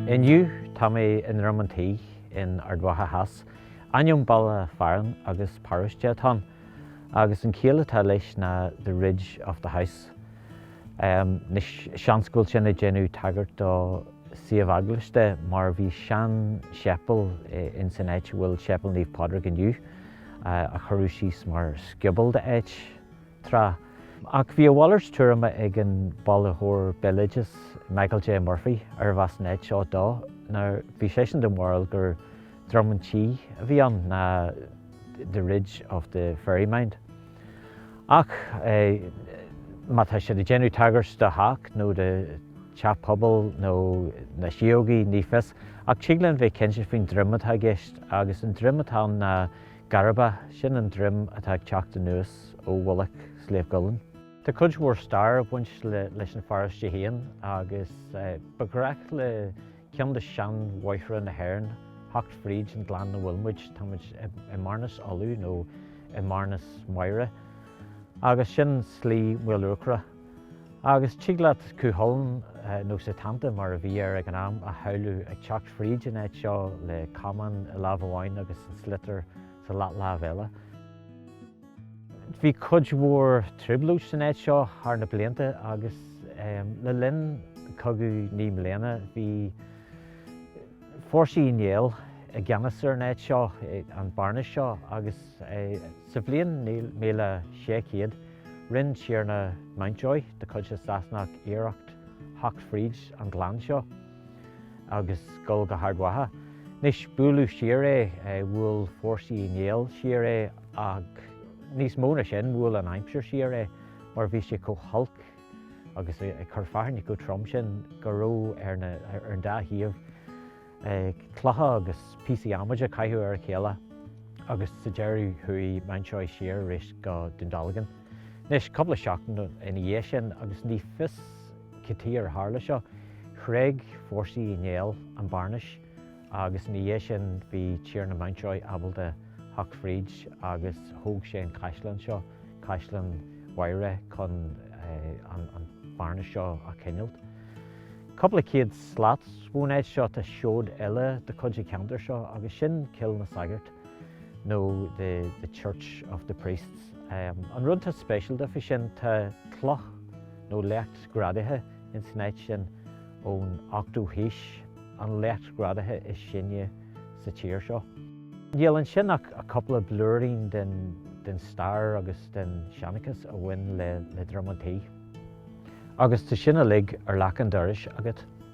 Inniu tá mé i nDroim an Tí in Ard Mhacha Theas, ainm baile fearainn agus paróiste atá ann. agus an chiall atá leis ná the ridge of the house. Anois, seans go bhfuil sin ag déanamh tagairt do suíomh eaglasta mar bhí seanséipéal ins an áit a bhfuil Séipéal Naomh Pádraig inniu, a chuireadh síos mar scioból de áit, tráth. Ach bhí a mhalairt tuairime ag an bailitheoir béaloideas Michael J. Murphy, arbh as an áit seo dó, nuair bhí seisean den bharúil gur Droim an tSí a bhí ann ná the ridge of the fairy mound. Ach má tá siad ag déanamh tagairt do theach nó do teach pobail nó na síogaí, ní fios, ach tig linn bheith cinnte faoin droim atá i gceist agus an droim atá ann ná Garba, sin an droim atá ag teacht anuas ó mhullach Shliabh gCuillinn. Tá cuid mhór stair ag baint leis an pharóiste féin agus ba ghnách le Ceann de sheanbhóithre na hÉireann theacht fríd an gleann 'na bhfuil muid. Tá muid i mBearnas Uladh nó i mBearnas Mhaighre agus sin Slí Mhíluachra agus tig leat Cú Chulainn, nó Setanta mar a bhí air ag an am, a shamhlú ag teacht fríd an áit seo le camán i lámh amháin agus an sliotar sa leathlámh eile. Bhí cuid mhór trioblóid san áit seo thar na blianta agus le linn Cogadh Naoi mBliana bhí fórsaí Uí Néill i gceannas ar an áit seo, an bearnas seo agus sa bhliain míle sé chéad rinn Tiarna Mountjoy de chuid na Sasanach iarracht theacht fríd an gleann seo. agus goil go hArd Mhacha. Anois, buaileadh siar é, bhuail fórsaí Uí Néill siar é ach níos mó ná sin, bhuail an aimsir siar é mar bhí sé chomh holc agus ag cur fearthainne chomh trom sin go raibh ar an dá thaobh clocha agus píosaí adhmaid a chaitheamh ar a chéile agus sa deireadh chuaigh Mountjoy siar arís go Dún Dealgan. Anois, cúpla seachtain ina dhiaidh sin agus ní fios, Cad chuige ar tharla seo. Thréig fórsaí Uí Néill an Bearnas agus ina dhiaidh sin bhí Tiarna Mountjoy ábalta theacht fríd agus thóg sé an caisleán seo, Caisleán Mhaighre chun an Bearnas seo a choinneáilt. Cúpla céad slat ón áit seo tá seoid eile de chuid an cheantair seo agus sin Cill na Sagart nó the church of the priests. An rud tá speisialta faoi sin tá cloch, nó leacht greanta ins an áit sin ón ochtú haois, an leacht greanta is sine sa tír seo. Níl ansin ach cúpla blúirín den stair agus den seanchas a bhain le Droim an Tí. Agus tá sin uilig ar leac an dorais agat.